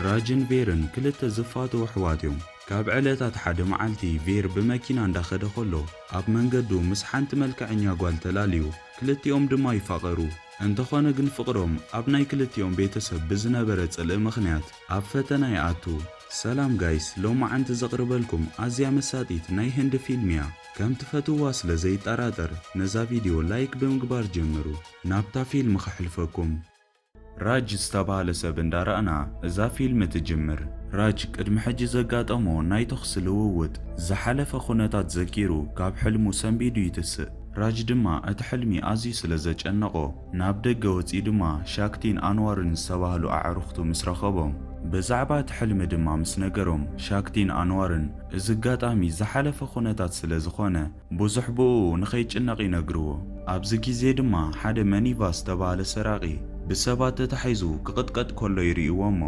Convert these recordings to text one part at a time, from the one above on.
ራጅን ቬርን ክልተ ዝፋተዉ ኣሕዋት እዮም። ካብ ዕለታት ሓደ መዓልቲ ቬር ብመኪና እንዳኸደ ከሎ ኣብ መንገዱ ምስ ሓንቲ መልከዐኛ ጓል ተላልዩ። ክልቲኦም ድማ ይፋቐሩ። እንተኾነ ግን ፍቕሮም ኣብ ናይ ክልቲኦም ቤተሰብ ብዝነበረ ጽልኢ ምኽንያት ኣብ ፈተና ይኣቱ። ሰላም ጋይስ ሎማዓንቲ ዘቕርበልኩም ኣዝያ መሳጢት ናይ ህንዲ ፊልም እያ። ከም ትፈትውዋ ስለ ዘይጠራጠር ነዛ ቪድዮ ላይክ ብምግባር ጀምሩ ናብታ ፊልም ከሕልፈኩም። ራጅ ዝተባህለ ሰብ እንዳራእና እዛ ፊልም ትጅምር። ራጅ ቅድሚ ሕጂ ዘጋጠሞ ናይ ተኹሲ ልውውጥ ዝሓለፈ ኩነታት ዘኪሩ ካብ ሕልሙ ሰንቢዱ ይትስእ። ራጅ ድማ እቲ ሕልሚ ኣዝዩ ስለ ዘጨነቖ ናብ ደገ ወጺኡ ድማ ሻክቲን ኣንዋርን ዝተባህሉ ኣዕሩኽቱ ምስ ረኸቦም፣ ብዛዕባ እቲ ሕልሚ ድማ ምስ ነገሮም፣ ሻክቲን ኣንዋርን እዚ ኣጋጣሚ ዝሓለፈ ኩነታት ስለ ዝኾነ ብዙሕ ብእኡ ንኸይጭነቕ ይነግርዎ። ኣብዚ ግዜ ድማ ሓደ መኒቫ ዝተባህለ ሰራቒ ብሰባት ተታሒዙ ክቕጥቀጥ ከሎ ይርእይዎ'ሞ፣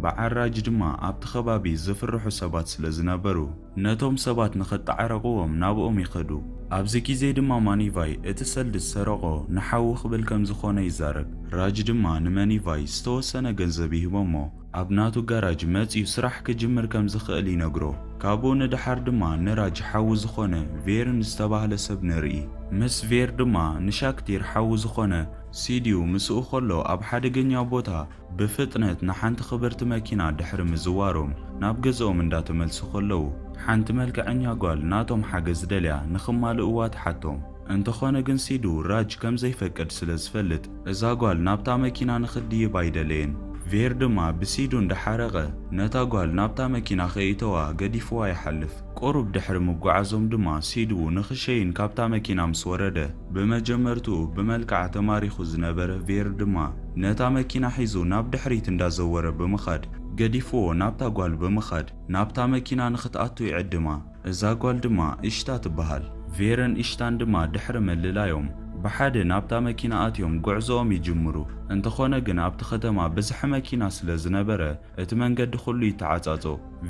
ብዓራጅ ድማ ኣብቲ ከባቢ ዝፍርሑ ሰባት ስለ ዝነበሩ፣ ነቶም ሰባት ንኸጣዕረቕዎም ናብኦም ይኸዱ። ኣብዚ ግዜ ድማ ማኒቫይ እቲ ሰልዲ ዝሰረቖ ንሓዉ ክብል ከም ዝኾነ ይዛረብ። ራጅ ድማ ንመኒቫይ ዝተወሰነ ገንዘብ ይህቦ'ሞ ኣብ ናቱ ጋራጅ መጺኡ ስራሕ ክጅምር ከም ዝኽእል ይነግሮ። ካብኡ ንደሓር ድማ ንራጅ ሓዉ ዝኾነ ቬርን ዝተባህለ ሰብ ንርኢ። ምስ ቬር ድማ ንሻክቲር ሓዉ ዝኾነ ሲድዩ ምስኡ ከሎ ኣብ ሓደገኛ ቦታ ብፍጥነት ንሓንቲ ክብርቲ መኪና ድሕሪ ምዝዋሮም ናብ ገዝኦም እንዳተመልሱ ከለዉ ሓንቲ መልከዐኛ ጓል ናቶም ሓገዝ ደልያ ንኽማልእዋ ትሓቶም። እንተኾነ ግን ሲዱ ራጅ ከም ዘይፈቅድ ስለ ዝፈልጥ እዛ ጓል ናብታ መኪና ንኽትድይብ ኣይደለየን። ቬር ድማ ብሲዱ እንዳሓረቐ ነታ ጓል ናብታ መኪና ከይእተዋ ገዲፍዋ ይሓልፍ። ቁሩብ ድሕሪ ምጉዓዞም ድማ ሲድዉ ንክሸይን ካብታ መኪና ምስ ወረደ ብመጀመርትኡ ብመልክዓ ተማሪኹ ዝነበረ ቬር ድማ ነታ መኪና ሒዙ ናብ ድሕሪት እንዳዘወረ ብምኻድ ገዲፍዎ ናብታ ጓል ብምኻድ ናብታ መኪና ንክትኣቱ ይዕድማ እዛ ጓል ድማ ኢሽታ ትበሃል። ቬርን ኢሽታን ድማ ድሕሪ ምልላዮም ብሓደ ናብታ መኪና ኣትዮም ጉዕዞኦም ይጅምሩ እንተኾነ ግን ኣብቲ ከተማ ብዝሒ መኪና ስለዝነበረ እቲ መንገዲ ዅሉ ይተዓጻጾ።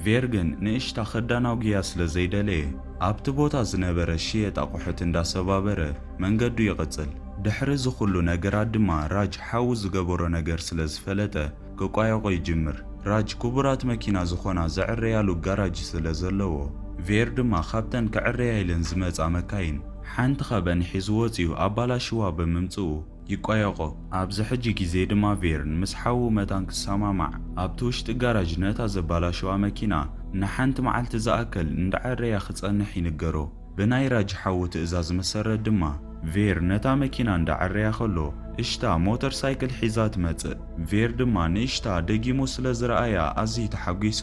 ቬር ግን ንእሽታ ክዳን ኣውጊያ ስለ ዘይደለየ፣ ኣብቲ ቦታ ዝነበረ ሽየጥ ኣቑሑት እንዳሰባበረ መንገዱ ይቕጽል። ድሕሪ እዚ ዅሉ ነገራት ድማ ራጅ ሓዉ ዝገበሮ ነገር ስለ ዝፈለጠ ክቋየቖ ይጅምር። ራጅ ክቡራት መኪና ዝዀና ዝዕረያሉ ጋራጅ ስለ ዘለዎ፣ ቬር ድማ ካብተን ክዕረያ ኢለን ዝመጻ መካይን ሓንቲ ኻበን ሒዙ ወጺኡ ኣባላሽዋ ብምምጽኡ፣ ይቋየቖ። ኣብዚ ሕጂ ግዜ ድማ ቬርን ምስ ሓዉ መታን ክሰማማዕ ኣብቲ ውሽጢ ጋራጅ ነታ ዘባላሸዋ መኪና ንሓንቲ መዓልቲ ዝኣከል እንዳዐረያ ክጸንሕ ይንገሮ። ብናይ ራጅ ሓዉ ትእዛዝ መሰረት ድማ ቬር ነታ መኪና እንዳዐረያ ከሎ እሽታ ሞተር ሳይክል ሒዛ ትመጽእ። ቬር ድማ ንእሽታ ደጊሙ ስለ ዝረኣያ ኣዝዪ ተሓጒሱ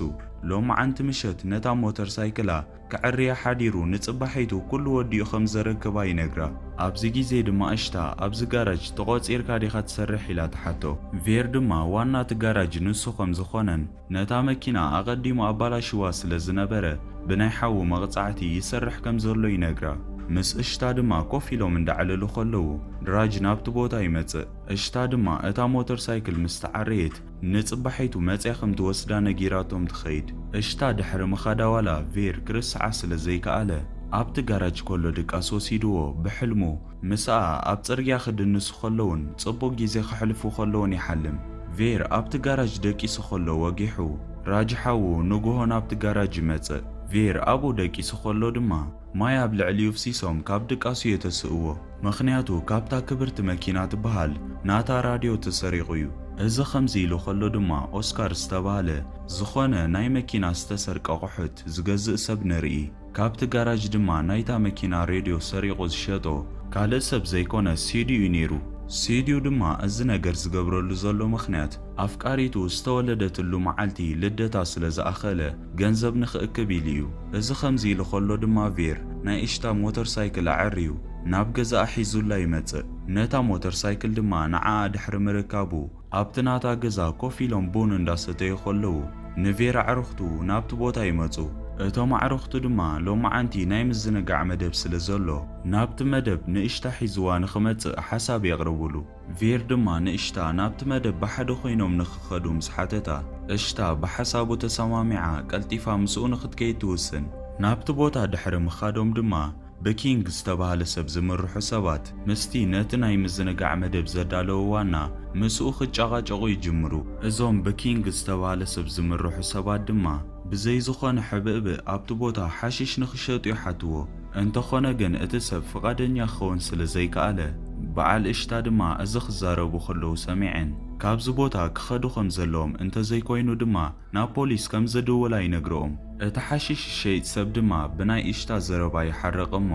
ሎምዓንቲ ምሸት ነታ ሞተር ሳይክላ ከዐርያ ሓዲሩ ንጽባሒቱ ኩሉ ወዲኡ ከም ዘረከባ ይነግራ። ኣብዚ ግዜ ድማ እሽታ ኣብዚ ጋራጅ ተቖጺርካ ዲኻ ትሰርሕ ኢላ ትሓቶ። ቬር ድማ ዋና እቲ ጋራጅ ንሱ ከም ዝኾነን ነታ መኪና ኣቐዲሙ ኣባላሽዋ ስለ ዝነበረ ብናይ ሓዉ መቕጻዕቲ ይሰርሕ ከም ዘሎ ይነግራ። ምስ እሽታ ድማ ኮፍ ኢሎም እንዳዕለሉ ከለዉ ድራጅ ናብቲ ቦታ ይመጽእ። እሽታ ድማ እታ ሞተር ሳይክል ምስ ተዓረየት ንጽባሒቱ መጽያ ከም ትወስዳ ነጊራቶም ትኸይድ። እሽታ ድሕሪ ምኻዳ ዋላ ቬር ክርስዓ ስለ ዘይከኣለ ኣብቲ ጋራጅ ከሎ ድቃስ ወሲድዎ ብሕልሙ ምስኣ ኣብ ጽርግያ ክድንሱ ከለዉን ጽቡቕ ግዜ ከሕልፉ ከለዉን ይሓልም። ቬር ኣብቲ ጋራጅ ደቂሱ ከሎ ወጊሑ። ራጅ ሓዉ ንግሆ ናብቲ ጋራጅ ይመጽእ። ቬር ኣብኡ ደቂሱ ከሎ ድማ። ማይ ኣብ ልዕሊኡ ኣፍሲሶም ካብ ድቃሱ የተስእዎ ምኽንያቱ ካብታ ክብርቲ መኪና ትበሃል ናታ ራድዮ ተሰሪቑ እዩ። እዚ ከምዚ ኢሉ ከሎ ድማ ኦስካር ዝተባህለ ዝኾነ ናይ መኪና ዝተሰርቀ ኣቑሑት ዝገዝእ ሰብ ንርኢ። ካብቲ ጋራጅ ድማ ናይታ መኪና ሬድዮ ሰሪቑ ዝሸጦ ካልእ ሰብ ዘይኮነስ ሲዲ'ዩ ነይሩ። ሲዲ'ዩ ድማ እዚ ነገር ዝገብረሉ ዘሎ ምኽንያት ኣፍቃሪቱ ዝተወለደትሉ መዓልቲ ልደታ ስለ ዝኣኸለ ገንዘብ ንኽእክብ ኢሉ'ዩ። እዚ ከምዚ ኢሉ ከሎ ድማ ቬር ናይ እሽታ ሞተር ሳይክል ኣዐርዩ ናብ ገዛኣ ሒዙላ ይመጽእ። ነታ ሞተር ሳይክል ድማ ንዓኣ ድሕሪ ምርካቡ ኣብቲ ናታ ገዛ ኮፍ ኢሎም ቡን እንዳሰተዩ ከለዉ ንቬር ኣዕሩኽቱ ናብቲ ቦታ ይመጹ። እቶም ኣዕሩኽቱ ድማ ሎምዓንቲ ናይ ምዝንጋዕ መደብ ስለ ዘሎ ናብቲ መደብ ንእሽታ ሒዙዋ ንኽመጽእ ሓሳብ የቕርቡሉ። ቬር ድማ ንእሽታ ናብቲ መደብ ብሓደ ኮይኖም ንኽኸዱ ምስ ሓተታ፣ እሽታ ብሓሳቡ ተሰማሚዓ ቀልጢፋ ምስኡ ንኽትከይድ ትውስን። ናብቲ ቦታ ድሕሪ ምኻዶም ድማ፣ ብኪንግ ዝተባህለ ሰብ ዝምርሑ ሰባት ምስቲ ነቲ ናይ ምዝንጋዕ መደብ ዘዳለወ ዋና ምስኡ ክጨቓጨቑ ይጅምሩ። እዞም ብኪንግ ዝተባህለ ሰብ ዝምርሑ ሰባት ድማ ብዘይ ዝኾነ ሕብእብእ ኣብቲ ቦታ ሓሽሽ ንኽሸጡ ይሓትዎ። እንተኾነ ግን እቲ ሰብ ፍቓደኛ ክኸውን ስለ ዘይከኣለ፣ በዓል እሽታ ድማ እዚ ክዛረቡ ከለዉ ሰሚዐን። ካብዚ ቦታ ክኸዱ ከም ዘለዎም እንተ ዘይኮይኑ ድማ ናብ ፖሊስ ከም ዝድውላ ይነግርኦም። እቲ ሓሽሽ ዝሸይጥ ሰብ ድማ ብናይ እሽታ ዘረባ ይሓርቕ እሞ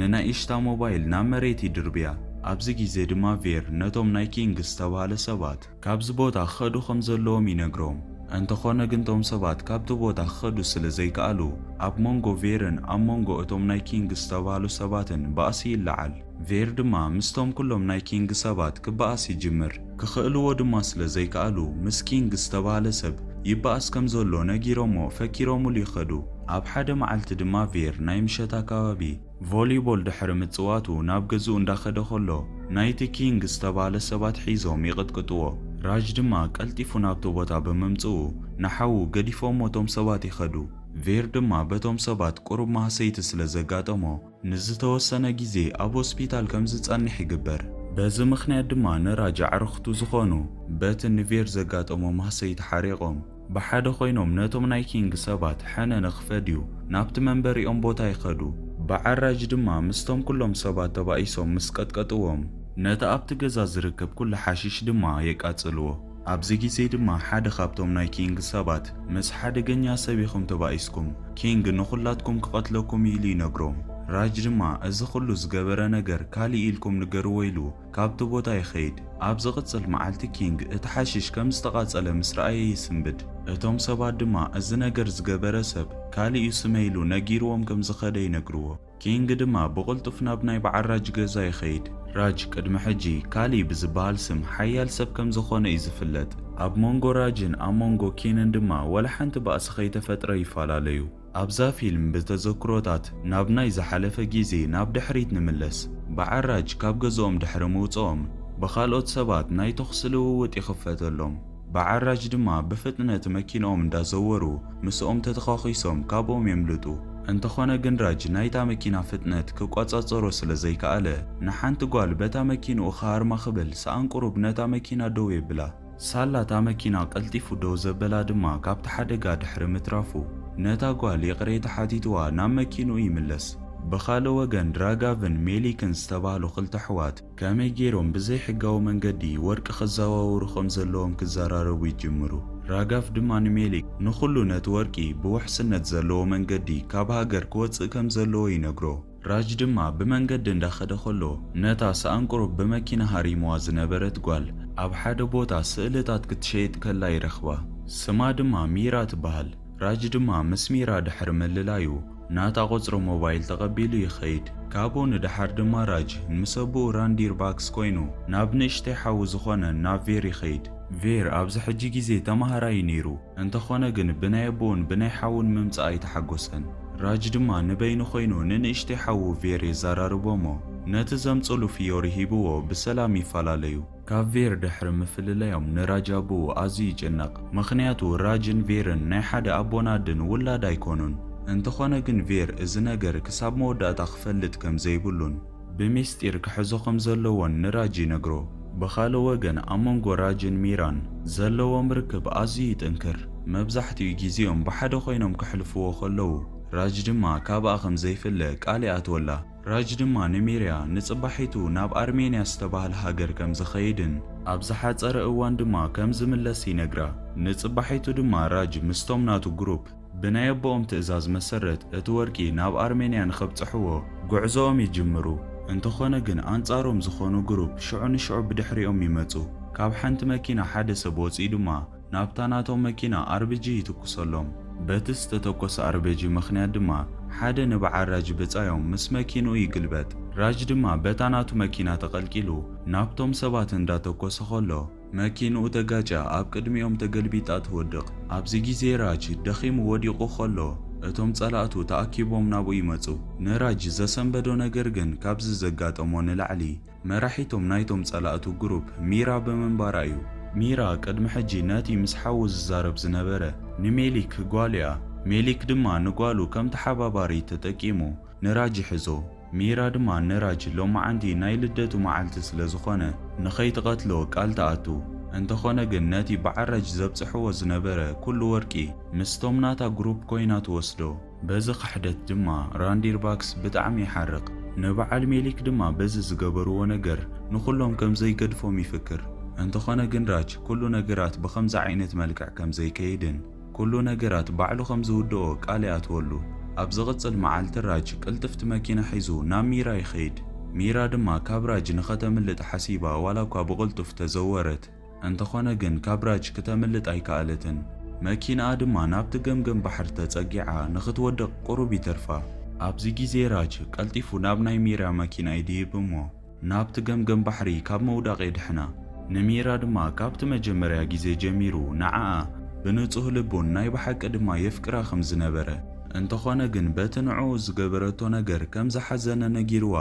ንናይ እሽታ ሞባይል ናብ መሬት ይድርብያ። ኣብዚ ግዜ ድማ ቬር ነቶም ናይ ኪንግ ዝተባህለ ሰባት። ካብዚ ቦታ ክኸዱ ከም ዘለዎም ይነግሮም። እንተኾነ ግን እቶም ሰባት ካብቲ ቦታ ክኸዱ ስለ ዘይከኣሉ ኣብ መንጎ ቬርን ኣብ መንጎ እቶም ናይ ኪንግ ዝተባህሉ ሰባትን ባእሲ ይለዓል። ቬር ድማ ምስቶም ኩሎም ናይ ኪንግ ሰባት ክበኣስ ይጅምር። ክኽእልዎ ድማ ስለ ዘይከኣሉ ምስ ኪንግ ዝተባህለ ሰብ ይበኣስ ከም ዘሎ ነጊሮሞ ፈኪሮምሉ ይኸዱ። ኣብ ሓደ መዓልቲ ድማ ቬር ናይ ምሸት ኣከባቢ፣ ቮሊቦል ድሕሪ ምጽዋቱ ናብ ገዝኡ እንዳኸደ ከሎ ናይቲ ኪንግ ዝተባህለ ሰባት ሒዞም ይቕጥቅጥዎ። ራጅ ድማ ቀልጢፉ ናብቲ ቦታ ብምምጽኡ ንሓዉ ገዲፎሞ እቶም ሰባት ይኸዱ። ቬር ድማ በቶም ሰባት ቁሩብ ማህሰይቲ ስለዘጋጠሞ ንዝተወሰነ ግዜ ኣብ ሆስፒታል ከምዝጸንሕ ይግበር። በዚ ምኽንያት ድማ ንራጅ ኣዕርኽቱ ዝኾኑ በቲ ንቬር ዘጋጠሞ ማህሰይቲ ሓሪቖም ብሓደ ዀይኖም ነቶም ናይ ኪንግ ሰባት ሕነ ንኽፈድዩ ናብቲ መንበሪኦም ቦታ ይኸዱ፣ ብዓራጅ ድማ ምስቶም ኵሎም ሰባት ተባኢሶም ምስ ቀጥቀጥዎም፣ ነቲ ኣብቲ ገዛ ዝርከብ ኵሉ ሓሽሽ ድማ የቃጽልዎ፣ ኣብዚ ግዜ ድማ ሓደ ኻብቶም ናይ ኪንግ ሰባት፣ ምስ ሓደገኛ ሰብ ኢኹም ተባኢስኩም፣ ኪንግ ንዅላትኩም ክቐትለኩም እዩ ኢሉ ይነግሮም፣ ራጅ ድማ እዚ ዅሉ ዝገበረ ነገር ካልእ ኢልኩም ንገርዎ ኢሉ ካብቲ ቦታ ይኸይድ። ኣብ ዝቕጽል መዓልቲ ኪንግ እቲ ሓሽሽ ከም ዝተቓጸለ ምስ ረኣየ ይስንብድ። እቶም ሰባት ድማ እዚ ነገር ዝገበረ ሰብ ካልእ'ዩ ስመይ ኢሉ ነጊርዎም ከም ዝኸደ ይነግርዎ። ኪንግ ድማ ብቕልጡፍ ናብ ናይ በዓል ራጅ ገዛ ይኸይድ። ራጅ ቅድሚ ሕጂ ካሊ ብዝበሃል ስም ሓያል ሰብ ከም ዝኾነ'ዩ ዝፍለጥ። ኣብ መንጎ ራጅን ኣብ መንጎ ኪንን ድማ ዋላ ሓንቲ ባእሲ ከይተፈጥረ ይፈላለዩ። ኣብዛ ፊልም ብተዘክሮታት ናብ ናይ ዝሓለፈ ግዜ ናብ ድሕሪት ንምለስ። ብዓራጅ ካብ ገዝኦም ድሕሪ ምውጽኦም ብካልኦት ሰባት ናይ ተኹሲ ልውውጥ ይኽፈተሎም። ብዓራጅ ድማ ብፍጥነት መኪንኦም እንዳዘወሩ ምስኦም ተተዃዂሶም ካብኦም የምልጡ። እንተኾነ ግን ራጅ ናይታ መኪና ፍጥነት ክቆጻጸሮ ስለ ዘይከኣለ ንሓንቲ ጓል በታ መኪንኡ ክሃርማ ክብል ሰኣን ቁሩብ ነታ መኪና ደው የብላ። ሳላ እታ መኪና ቀልጢፉ ደው ዘበላ ድማ ካብቲ ሓደጋ ድሕሪ ምትራፉ፣ ነታ ጓል ይቕሬታ ሓቲትዋ ናብ መኪንኡ ይምለስ። ብኻልእ ወገን ድራጋቭን ሜሊክን ዝተባህሉ ክልተ ኣሕዋት፣ ከመይ ገይሮም ብዘይሕጋዊ መንገዲ ወርቂ ከዘዋውሩ ከም ዘለዎም ክዘራረቡ ይጅምሩ። ራጋቭ ድማ ንሜሊክ ንኹሉ ነቲ ወርቂ ብውሕስነት ዘለዎ መንገዲ ካብ ሃገር ክወጽእ ከም ዘለዎ ይነግሮ። ራጅ ድማ ብመንገዲ እንዳኸደ ከሎ ነታ ሳእን ቁሩብ ብመኪና ሃሪምዋ ዝነበረት ጓል ኣብ ሓደ ቦታ ስእልታት ክትሸይጥ ከላ ይረኽባ። ስማ ድማ ሚራ ትበሃል። ራጅ ድማ ምስ ሚራ ድሕሪ ምልላዩ ናታ ቁጽሪ ሞባይል ተቐቢሉ ይኸይድ። ካብኡ ንደሓር ድማ ራጅ ምስ ኣቡኡ ራንዲር ባክስ ኮይኑ ናብ ንእሽተይ ሓዉ ዝኾነ ናብ ቬር ይኸይድ። ቬር ኣብዚ ሕጂ ግዜ ተማሃራይ'ዩ ነይሩ። እንተኾነ ግን ብናይ ኣቦኡን ብናይ ሓዉን ምምጻእ ኣይተሓጎሰን። ራጅ ድማ ንበይኑ ኮይኑ ንንእሽተይ ሓዉ ቬር የዛራርቦ'ሞ ነቲ ዘምጽእሉ ፍዮሪ ሂብዎ ብሰላም ይፈላለዩ። ካብ ቬር ድሕሪ ምፍልላዮም ንራጅ ኣቦኡ ኣዝዩ ይጭነቕ። ምኽንያቱ ራጅን ቬርን ናይ ሓደ ኣቦን ኣድን ዉላድ ኣይኮኑን። እንተኾነ ግን ቬር እዚ ነገር ክሳብ መወዳእታ ክፈልጥ ከምዘይብሉን፣ ብሚስጢር ክሕዞ ከም ዘለዎን ንራጂ ይነግሮ። ብኻልእ ወገን ኣብ መንጎ ራጂን ሚራን ዘለዎም ርክብ ኣዝዩ ይጥንክር። መብዛሕትኡ ግዜኦም ብሓደ ኮይኖም ከሕልፍዎ ከለዉ ራጅ ድማ ካብኣ ከም ዘይፍለ ቃል ይኣትወላ። ራጅ ድማ ንሚርያ ንጽባሒቱ ናብ ኣርሜንያ ዝተባህለ ሃገር ከም ዝኸይድን ኣብ ዝሓጸረ እዋን ድማ ከም ዝምለስ ይነግራ። ንጽባሒቱ ድማ ራጅ ምስቶም ናቱ ግሩፕ፣ ብናይ ኣቦኦም ትእዛዝ መሰረት እቲ ወርቂ ናብ ኣርመንያ ንኸብጽሕዎ ጉዕዞኦም ይጅምሩ። እንተኾነ ግን ኣንጻሮም ዝኾኑ ግሩፕ ሽዑ ንሽዑ ብድሕሪኦም ይመጹ። ካብ ሓንቲ መኪና ሓደ ሰብ ወጺኡ ድማ ናብታ ናቶም መኪና ኣርብጂ ይትኩሰሎም። በቲ ዝተተኮሰ ኣርበጂ ምኽንያት ድማ ሓደ ንበዓል ራጅ ብጻዮም ምስ መኪንኡ ይግልበጥ። ራጅ ድማ በታ ናቱ መኪና ተቐልቂሉ ናብቶም ሰባት እንዳተኮሰ ከሎ፣ መኪንኡ ተጋጭያ ኣብ ቅድሚኦም ተገልቢጣ ትወድቕ። ኣብዚ ግዜ ራጅ ደኺሙ ወዲቑ ከሎ እቶም ጸላእቱ ተኣኪቦም ናብኡ ይመጹ። ንራጅ ዘሰንበዶ ነገር ግን ካብዚ ዘጋጠሞ ንላዕሊ መራሒቶም ናይቶም ጸላእቱ ግሩፕ ሚራ ብምንባራ እዩ። ሚራ ቅድሚ ሕጂ ነቲ ምስ ሓዉ ዝዛረብ ዝነበረ ንሜሊክ ጓሉ'ያ። ሜሊክ ድማ ንጓሉ ከም ተሓባባሪ ተጠቂሙ ንራጅ ይሕዞ ሚራ ድማ ንራጅ ሎማዓንቲ ናይ ልደቱ ማዓልቲ ስለ ዝኮነ ንከይትቀትሎ ቃል ትኣቱ እንተኮነ ግን ነቲ ባዓል ራጅ ዘብጽሕዎ ዝነበረ ኩሉ ወርቂ ምስቶም ናታ ግሩፕ ኮይና ትወስዶ በዚ ክሕደት ድማ ራንዲር ባክስ ብጣዕሚ ይሓርቅ ንባዓል ሜሊክ ድማ በዚ ዝገበርዎ ነገር ንኩሎም ከም ዘይገድፎም ይፍክር እንተኮነ ግን ራጅ ኩሉ ነገራት ብከምዚ ዓይነት መልክዕ ከም ዘይከይድን ኩሉ ነገራት ባዕሉ ከም ዝውድኦ ቃል ይኣትወሉ። ኣብ ዝቕጽል መዓልቲ ራጅ ቅልጥፍቲ መኪና ሒዙ ናብ ሚራ ይኸይድ። ሚራ ድማ ካብ ራጅ ንኸተምልጥ ሓሲባ ዋላ እኳ ብቕልጡፍ ተዘወረት፣ እንተኾነ ግን ካብ ራጅ ክተምልጥ ኣይከኣለትን። መኪንኣ ድማ ናብቲ ገምገም ባሕሪ ተጸጊዓ ንኽትወድቕ ቁሩብ ይተርፋ። ኣብዚ ግዜ ራጅ ቀልጢፉ ናብ ናይ ሚራ መኪና ይድይብ እሞ ናብቲ ገምገም ባሕሪ ካብ ምውዳቕ የድሕና። ንሚራ ድማ ካብቲ መጀመርያ ግዜ ጀሚሩ ንዓኣ ብንጹህ ልቡን ናይ ብሓቂ ድማ የፍቅራ ከም ዝነበረ፣ እንተኾነ ግን በቲ ንዕኡ ዝገበረቶ ነገር ከም ዝሓዘነ ነጊርዋ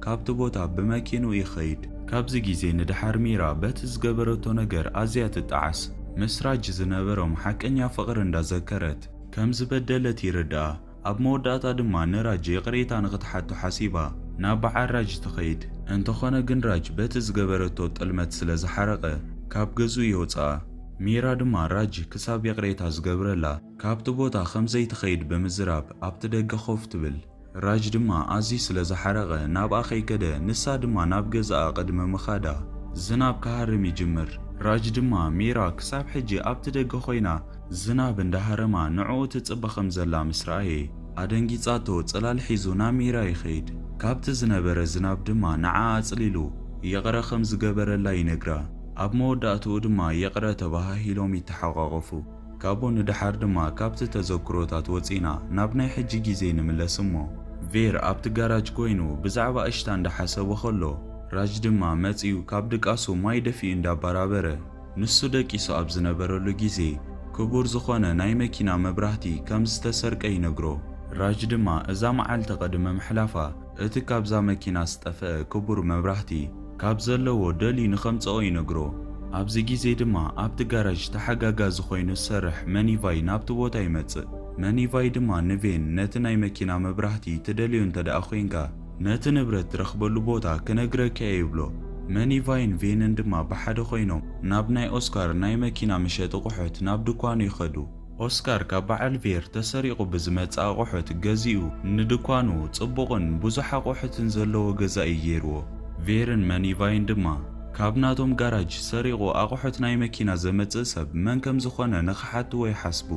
ካብቲ ቦታ ብመኪንኡ ይኸይድ። ካብዚ ግዜ ንደሓር ሚራ በቲ ዝገበረቶ ነገር ኣዝያ ትጠዓስ። ምስ ራጅ ዝነበሮም ሓቀኛ ፍቕሪ እንዳዘከረት ከም ዝበደለት ይርድኣ። ኣብ መወዳእታ ድማ ንራጅ ይቕሬታ ንኽትሓቶ ሓሲባ ናብ በዓል ራጅ ትኸይድ። እንተኾነ ግን ራጅ በቲ ዝገበረቶ ጥልመት ስለ ዝሓረቐ ካብ ገዝኡ የውጽኣ። ሚራ ድማ ራጅ ክሳብ ይቕሬታ ዝገብረላ ካብቲ ቦታ ከም ዘይትኸይድ ብምዝራብ ኣብቲ ደገ ኮፍ ትብል። ራጅ ድማ ኣዝዩ ስለ ዝሓረቐ ናብኣ ከይከደ ንሳ ድማ ናብ ገዝኣ ቅድሚ ምኻዳ ዝናብ ክሃርም ይጅምር። ራጅ ድማ ሚራ ክሳብ ሕጂ ኣብቲ ደገ ኮይና ዝናብ እንዳ ሃረማ ንዕኡ ትጽበ ከም ዘላ ምስ ረኣየ ኣደንጊጻቶ ጽላል ሒዙ ናብ ሚራ ይኸይድ ካብቲ ዝነበረ ዝናብ ድማ ንዓኣ ኣጽሊሉ ይቕረ ከም ዝገበረላ ይነግራ ኣብ መወዳእትኡ ድማ ይቕረ ተባሃሂሎም ይተሓቛቖፉ ካብኡ ንደሓር ድማ ካብቲ ተዘክሮታት ወጺእና ናብ ናይ ሕጂ ግዜ ንምለስ እሞ ቬር ኣብቲ ጋራጅ ኮይኑ ብዛዕባ እሽታ እንዳ ሓሰበ ከሎ ራጅ ድማ መጺኡ ካብ ድቃሱ ማይ ደፊኡ እንዳ ኣባራበረ። ንሱ ደቂሱ ኣብ ዝነበረሉ ግዜ ክቡር ዝኾነ ናይ መኪና መብራህቲ ከም ዝተሰርቀ ይነግሮ። ራጅ ድማ እዛ መዓልቲ ቅድሚ ምሕላፋ እቲ ካብዛ መኪና ዝጠፈኣ ክቡር መብራህቲ ካብ ዘለዎ ደልዩ ንኸምጽኦ ይነግሮ። ኣብዚ ግዜ ድማ ኣብቲ ጋራጅ ተሓጋጋዚ ኮይኑ ዝሰርሕ መኒቫይ ናብቲ ቦታ ይመጽእ። መኒቫይ ድማ ንቬን ነቲ ናይ መኪና መብራህቲ ትደልዮ እንተድኣ ኮይንካ፣ ነቲ ንብረት ትረኽበሉ ቦታ ክነግረኪ'የ ይብሎ። መኒቫይን ቬንን ድማ ብሓደ ኮይኖም ናብ ናይ ኦስካር ናይ መኪና መሸጢ ኣቑሑት ናብ ድኳኑ ይኸዱ። ኦስካር ካብ በዓል ቬር ተሰሪቑ ብዝመጽእ ኣቑሑት ገዚኡ ንድኳኑ ጽቡቕን ብዙሕ ኣቑሑትን ዘለዎ ገዛኢ ገይርዎ። ቬርን መኒቫይን ድማ ካብ ናቶም ጋራጅ ሰሪቑ ኣቑሑት ናይ መኪና ዘመጽእ ሰብ መን ከም ዝኾነ ንኽሓትዎ ይሓስቡ።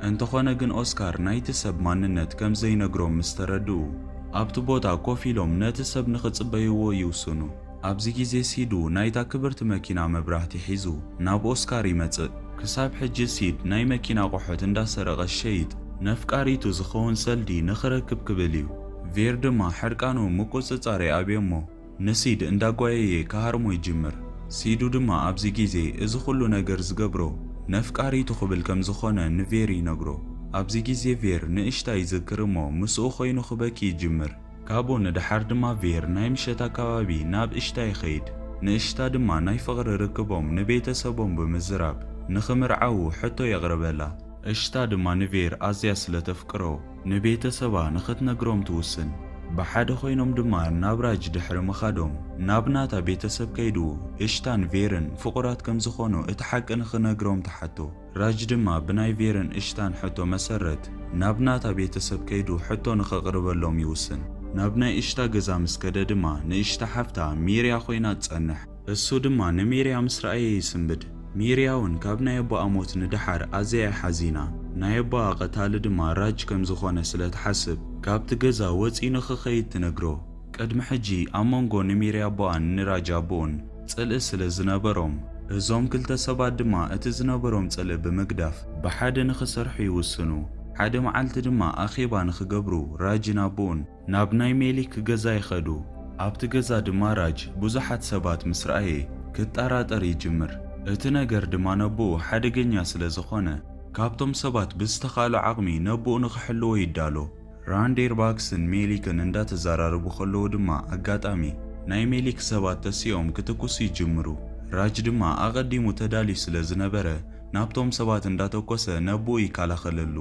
እንተኾነ ግን ኦስካር ናይቲ ሰብ ማንነት ከም ዘይነግሮም ምስ ተረድኡ፣ ኣብቲ ቦታ ኮፍ ኢሎም ነቲ ሰብ ንኽጽበይዎ ይውስኑ። ኣብዚ ግዜ ሲዱ ናይታ ክብርቲ መኪና መብራህቲ ሒዙ ናብ ኦስካር ይመጽእ። ክሳብ ሕጂ ሲድ ናይ መኪና ኣቑሑት እንዳሰረቐ ዝሸይጥ፣ ነፍቃሪቱ ዝኸውን ሰልዲ ንኽረክብ ክብል እዩ። ቬር ድማ ሕርቃኑ ምቁጽጻር ይኣብዮ'ሞ ንሲድ እንዳጓየየ ክሃርሞ ይጅምር። ሲዱ ድማ ኣብዚ ግዜ እዚ ኩሉ ነገር ዝገብሮ ነፍቃሪቱ ክብል ከም ዝኾነ ንቬር ይነግሮ። ኣብዚ ግዜ ቬር ንእሽታ ይዝክር እሞ ምስኡ ኮይኑ ክበኪ ይጅምር። ካብኡ ንደሓር ድማ ቬር ናይ ምሸት ኣካባቢ ናብ እሽታ ይኸይድ። ንእሽታ ድማ ናይ ፍቕሪ ርክቦም ንቤተሰቦም ብምዝራብ ንኽምርዓዉ ሕቶ የቕርበላ። እሽታ ድማ ንቬር ኣዝያ ስለ ተፍቅሮ ንቤተሰባ ንኽትነግሮም ትውስን። ብሓደ ኮይኖም ድማ ናብ ራጅ ድሕሪ ምኻዶም፣ ናብ ናታ ቤተሰብ ከይዱ እሽታን ቬርን ፍቑራት ከም ዝኾኑ እቲ ሓቂ ንኽነግሮም ትሓቶ። ራጅ ድማ ብናይ ቬርን እሽታን ሕቶ መሰረት ናብ ናታ ቤተሰብ ከይዱ ሕቶ ንኸቕርበሎም ይውስን። ናብ ናይ እሽታ ገዛ ምስ ከደ ድማ ንእሽታ ሓፍታ ሚርያ ኮይና ትጸንሕ። እሱ ድማ ንሚርያ ምስ ረኣየ ይስንብድ። ሚርያ'ውን ካብ ናይ ኣቦኣ ሞት ንደሓር ኣዘያ'ያ ሓዚና። ናይ ኣቦኣ ቀታሊ ድማ ራጅ ከም ዝኾነ ስለ ትሓስብ ካብቲ ገዛ ወጺኡ ንኽኸይድ ትነግሮ። ቅድሚ ሕጂ ኣብ መንጎ ንሚርያ ኣቦኣን ንራጅ ኣቦኡን ጽልኢ ስለ ዝነበሮም እዞም ክልተ ሰባት ድማ እቲ ዝነበሮም ጽልኢ ብምግዳፍ ብሓደ ንኽሰርሑ ይውስኑ። ሓደ መዓልቲ ድማ ኣኼባ ንኽገብሩ ራጅን ኣቦኡን ናብ ናይ ሜሊክ ገዛ ይኸዱ። ኣብቲ ገዛ ድማ ራጅ ብዙሓት ሰባት ምስ ረኣየ ክጠራጠር ይጅምር። እቲ ነገር ድማ ነቦኡ ሓደገኛ ስለ ዝኾነ ካብቶም ሰባት ብዝተኻእሎ ዓቕሚ ነቦኡ ንኽሕልዎ ይዳሎ። ራንዴር ባክስን ሜሊክን እንዳተዘራረቡ ከለዉ ድማ ኣጋጣሚ ናይ ሜሊክ ሰባት ተሲኦም ክትኩሱ ይጅምሩ። ራጅ ድማ ኣቐዲሙ ተዳልዩ ስለ ዝነበረ ናብቶም ሰባት እንዳተኮሰ ነቦኡ ይከላኸለሉ።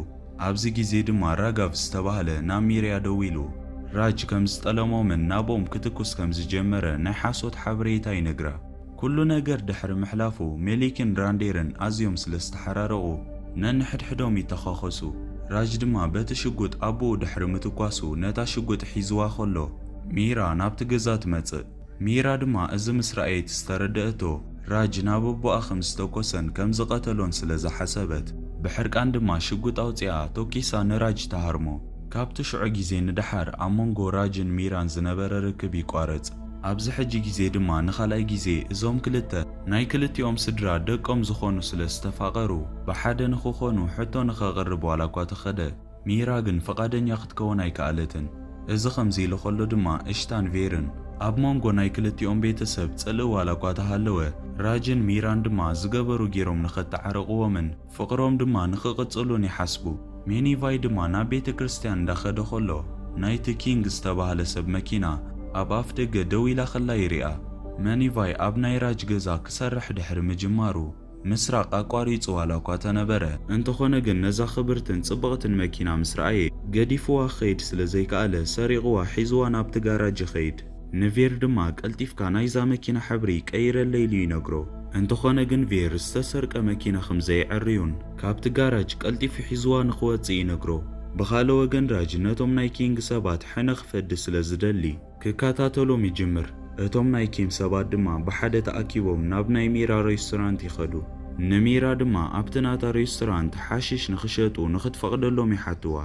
ኣብዚ ግዜ ድማ ራጋቭ ዝተባህለ ናብ ሚርያ ደዊሉ ራጅ ከም ዝጠለሞምን ናብኦም ክትኩስ ከም ዝጀመረ ናይ ሓሶት ሓበሬታ ይነግራ። ኩሉ ነገር ድሕሪ ምሕላፉ ሜሊክን ራንዴርን ኣዝዮም ስለ ዝተሓራረቑ ነንሕድሕዶም ይተኻኸሱ። ራጅ ድማ በቲ ሽጉጥ ኣቡኡ ድሕሪ ምትኳሱ ነታ ሽጉጥ ሒዝዋ ከሎ ሚራ ናብቲ ገዛ ትመጽእ። ሚራ ድማ እዚ ምስ ረኣየት ዝተረደኣቶ ራጅ ናብ ኣቦኣ ከም ዝተኮሰን ከም ዝቀተሎን ስለ ዝሓሰበት ብሕርቃን ድማ ሽጉጥ ኣውጺኣ ቶኪሳ ንራጅ ትሃርሞ። ካብቲ ሽዑ ግዜ ንደሓር ኣብ መንጎ ራጅን ሚራን ዝነበረ ርክብ ይቋረጽ። ኣብዚ ሕጂ ግዜ ድማ ንካልኣይ ግዜ እዞም ክልተ ናይ ክልቲኦም ስድራ ደቆም ዝኾኑ ስለ ዝተፋቀሩ ብሓደ ንክኾኑ ሕቶ ንከቅርብ ዋላኳ ተኸደ። ሚራ ግን ፍቓደኛ ክትከውን ኣይከኣለትን። እዚ ከምዚ ኢሉ ከሎ ድማ እሽታን ቬርን ኣብ ሞንጎ ናይ ክልቲኦም ቤተሰብ ጽልኢ ዋላ እኳ ተሃለወ፣ ራጅን ሚራን ድማ ዝገበሩ ጌሮም ንኸተዓርቕዎምን ፍቕሮም ድማ ንኽቕጽሉን ይሓስቡ። ሜኒቫይ ድማ ናብ ቤተክርስትያን እንዳኸደ ከሎ ናይቲ ኪንግ ዝተባህለ ሰብ መኪና ኣብ ኣፍደገ ደው ኢላ ከላ ይሪኣ። መኒቫይ ኣብ ናይ ራጅ ገዛ ክሰርሕ ድሕሪ ምጅማሩ፣ ምስራቕ ኣቋሪጹ ዋላኳ ተነበረ፣ እንተኾነ ግን ነዛ ክብርትን ጽብቕትን መኪና ምስ ረኣየ፣ ገዲፍዋ ክኸይድ ስለ ዘይከኣለ፣ ሰሪቕዋ ሒዝዋ ናብቲ ጋራጅ ይኸይድ። ንቬር ድማ ቀልጢፍካ ናይዛ መኪና ሕብሪ ቀይረለይ ኢሉ ይነግሮ። እንተኾነ ግን ቬር ዝተሰርቀ መኪና ከም ዘየዐርዩን ካብቲ ጋራጅ ቀልጢፉ ሒዝዋ ንኽወጽእ ይነግሮ። ብኻልእ ወገን ራጅ ነቶም ናይ ኪንግ ሰባት ሕነ ክፈዲ ስለ ዝደሊ፣ ክከታተሎም ይጅምር። እቶም ናይ ኪም ሰባት ድማ ብሓደ ተኣኪቦም ናብ ናይ ሚራ ሬስቶራንት ይኸዱ። ንሚራ ድማ ኣብቲ ናታ ሬስቶራንት ሓሺሽ ንኽሸጡ ንኽትፈቕደሎም ይሓትዋ።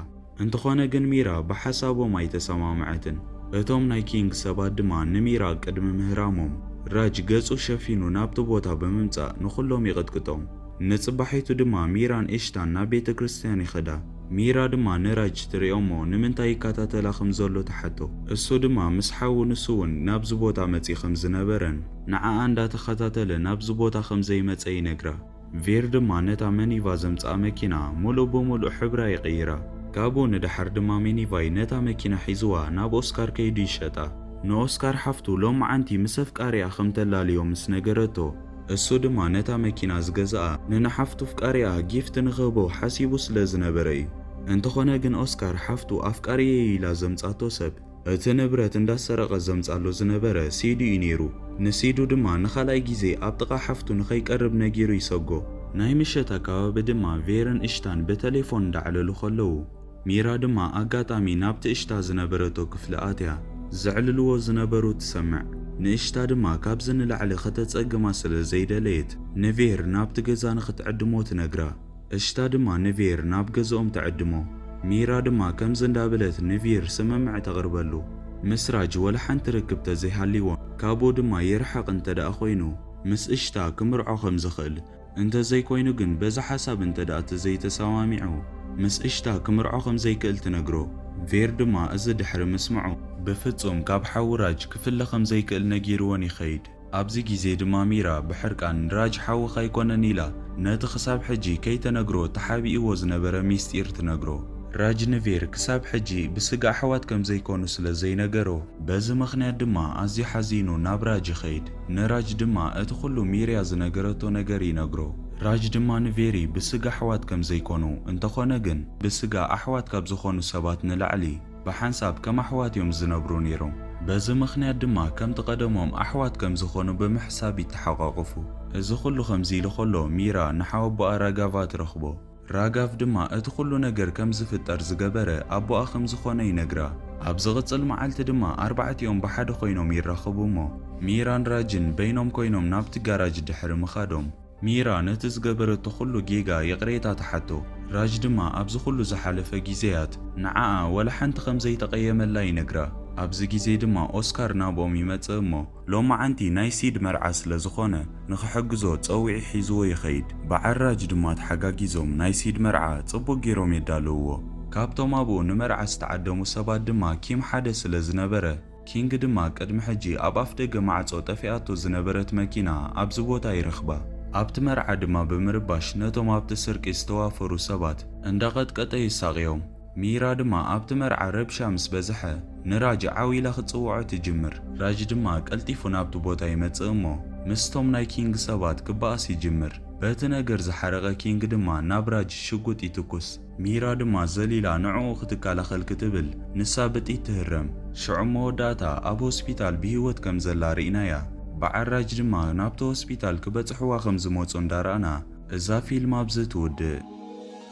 እንተኾነ ግን ሚራ ብሓሳቦም ኣይተሰማምዐትን። እቶም ናይ ኪንግ ሰባት ድማ ንሚራ ቅድሚ ምህራሞም ራጅ ገጹ ሸፊኑ ናብቲ ቦታ ብምምጻእ ንኹሎም ይቕጥቅጦም። ንጽባሒቱ ድማ ሚራን ኢሽታን ናብ ቤተ ክርስትያን ይኸዳ። ሚራ ድማ ንራጅ ትሪኦ እሞ ንምንታይ ይካታተላ ከም ዘሎ ትሓቶ እሱ ድማ ምስ ሓዉ ንሱ ዉን ናብዚ ቦታ መጺኡ ከም ዝነበረን ንዓኣ እንዳ ተከታተለ ናብዚ ቦታ ከም ዘይመጸ ይነግራ ቪር ድማ ነታ መኒቫ ዘምጽኣ መኪና ሙሉእ ብሙሉእ ሕብራ ይቅይራ ካብኡ ንደሓር ድማ ሚኒቫይ ነታ መኪና ሒዝዋ ናብ ኦስካር ከይዱ ይሸጣ ንኦስካር ሓፍቱ ሎምዓንቲ ምስ ኣፍቃሪኣ ከም ተላልዮ ምስ ነገረቶ እሱ ድማ ነታ መኪና ዝገዝኣ ንንሓፍቱ ኣፍቃሪኣ ጊፍት ንክህቦ ሓሲቡ ስለ ዝነበረ እዩ። እንተኾነ ግን ኦስካር ሓፍቱ ኣፍቃሪየይ እዩ ኢላ ዘምጻቶ ሰብ እቲ ንብረት እንዳሰረቐ ዘምጻሎ ዝነበረ ሲዱ እዩ ኔሩ። ንሲዱ ድማ ንኻልኣይ ጊዜ ኣብ ጥቓ ሓፍቱ ንኸይቀርብ ነጊሩ ይሰጎ። ናይ ምሸት ኣከባቢ ድማ ቬርን እሽታን ብተሌፎን እንዳዕለሉ ከለዉ፣ ሚራ ድማ ኣጋጣሚ ናብቲ እሽታ ዝነበረቶ ክፍሊ ኣትያ ዘዕልልዎ ዝነበሩ ትሰምዕ። ንእሽታ ድማ ካብዚ ንላዕሊ ከተጸግማ ስለ ዘይደለየት ንቬር ናብቲ ገዛ ንኽትዕድሞ ትነግራ። እሽታ ድማ ንቬር ናብ ገዝኦም ትዕድሞ። ሚራ ድማ ከምዚ እንዳበለት ንቪር ስምምዕ ተቕርበሉ። ምስራጅ ወላ ሓንቲ ርክብ ተዘይሃልይዎም ካብኡ ድማ ይርሓቕ እንተደኣ ኮይኑ ምስ እሽታ ክምርዖ ከም ዝኽእል እንተዘይኮይኑ ግን በዚ ሓሳብ እንተድኣ ተዘይተሰማሚዑ ምስ እሽታ ክምርዖ ከምዘይክእል ትነግሮ። ቬር ድማ እዚ ድሕሪ ምስምዑ ብፍጹም ካብ ሓው ራጅ ክፍለ ከምዘይክእል ነጊርወን ይኸይድ። ኣብዚ ግዜ ድማ ሚራ ብሕርቃን ራጅ ሓውኻ ኣይኮነን ኢላ ነቲ ክሳብ ሕጂ ከይተነግሮ ተሓቢእዎ ዝነበረ ሚስጢር ትነግሮ። ራጅ ንቬር ክሳብ ሕጂ ብስጋ ኣሕዋት ከምዘይኮኑ ስለዘይነገሮ በዚ ምኽንያት ድማ ኣዝዩ ሓዚኑ ናብ ራጅ ይኸይድ። ንራጅ ድማ እቲ ኹሉ ሚርያ ዝነገረቶ ነገር ይነግሮ። ራጅ ድማ ንቬሪ ብስጋ ኣሕዋት ከም ዘይኮኑ፣ እንተኾነ ግን ብስጋ ኣሕዋት ካብ ዝኾኑ ሰባት ንላዕሊ ብሓንሳብ ከም ኣሕዋት እዮም ዝነብሩ ነይሮም። በዚ ምኽንያት ድማ ከምቲ ቀደሞም ኣሕዋት ከም ዝኾኑ ብምሕሳብ ይተሓቛቖፉ። እዚ ኹሉ ከምዚ ኢሉ ከሎ ሚራ ንሓወቦኣ ራጋቫ ትረኽቦ። ራጋቭ ድማ እቲ ዅሉ ነገር ከም ዚፍጠር ዝገበረ ኣቦኣ ኸም ዝዀነ ይነግራ። ኣብ ዚቕጽል መዓልቲ ድማ ኣርባዕቲኦም ብሓደ ዀይኖም ይራኸቡ እሞ፣ ሚራን ራጅን በይኖም ኰይኖም ናብቲ ጋራጅ ድሕሪ ምኻዶም፣ ሚራ ነቲ ዝገበረቶ ዅሉ ጌጋ ይቕሬታ ትሓቶ፣ ራጅ ድማ ኣብዚ ዅሉ ዝሓለፈ ግዜያት ንዓኣ ዋላ ሓንቲ ኸም ዘይተቐየመላ ይነግራ። ኣብዚ ግዜ ድማ ኦስካር ናብኦም ይመጽእ እሞ፣ ሎማዓንቲ ናይ ሲድ መርዓ ስለ ዝኾነ ንኽሕግዞ ጸዊዒ ሒዝዎ ይኸይድ ብዓራጅ ድማ ተሓጋጊዞም ናይ ሲድ መርዓ ጽቡቅ ጌሮም የዳልውዎ። ካብቶም ኣብኡ ንመርዓ ዝተዓደሙ ሰባት ድማ ኪም ሓደ ስለ ዝነበረ ኪንግ ድማ ቅድሚ ሕጂ ኣብ ኣፍደገ ማዕጾ ጠፊኣቶ ዝነበረት መኪና ኣብዚ ቦታ ይረኽባ። ኣብቲ መርዓ ድማ ብምርባሽ ነቶም ኣብቲ ስርቂ ዝተዋፈሩ ሰባት እንዳቀጥቀጠ የሳቅዮም። ሚራ ድማ ኣብቲ መርዓ ረብሻ ምስ በዝሐ ንራጅ ዓው ኢላ ክትጽውዖ ትጅምር። ራጅ ድማ ቀልጢፉ ናብቲ ቦታ ይመጽእ እሞ ምስቶም ናይ ኪንግ ሰባት ክበኣስ ይጅምር። በቲ ነገር ዝሓረቐ ኪንግ ድማ ናብ ራጅ ሽጉጥ ይትኩስ። ሚራ ድማ ዘሊላ ንዕኡ ክትከላኸል ክትብል ንሳ ብጥይት ትህረም። ሽዑ መወዳእታ ኣብ ሆስፒታል ብህይወት ከም ዘላ ርኢናያ። በዓል ራጅ ድማ ናብቲ ሆስፒታል ክበጽሕዋ ከም ዝመጹ እንዳረኣና እዛ ፊልም ኣብዚ ትውድእ።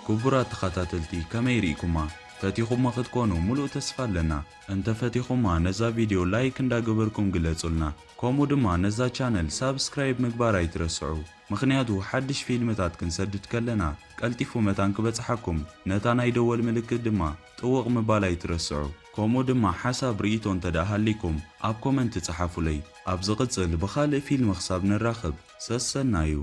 ኩቡራት ተኻታተልቲ ከመይ ሪኢኩማ ፈቲኹማ ክትኮኑ ሙሉእ ተስፋ ኣለና እንተ ፈቲኹማ ነዛ ቪድዮ ላይክ እንዳ ገበርኩም ግለጹልና ኮምኡ ድማ ነዛ ቻነል ሳብስክራይብ ምግባር ኣይትረስዑ ምኽንያቱ ሓድሽ ፊልምታት ክንሰድድ ከለና ቀልጢፉ መታን ክበጽሓኩም ነታ ናይ ደወል ምልክት ድማ ጥውቕ ምባል ኣይትረስዑ ኮምኡ ድማ ሓሳብ ሪኢቶ እንተድኣ ሃሊኩም ኣብ ኮመንት ጽሓፉለይ ኣብ ዝቕጽል ብኻልእ ፊልም ክሳብ ንራኽብ ሰሰናዩ።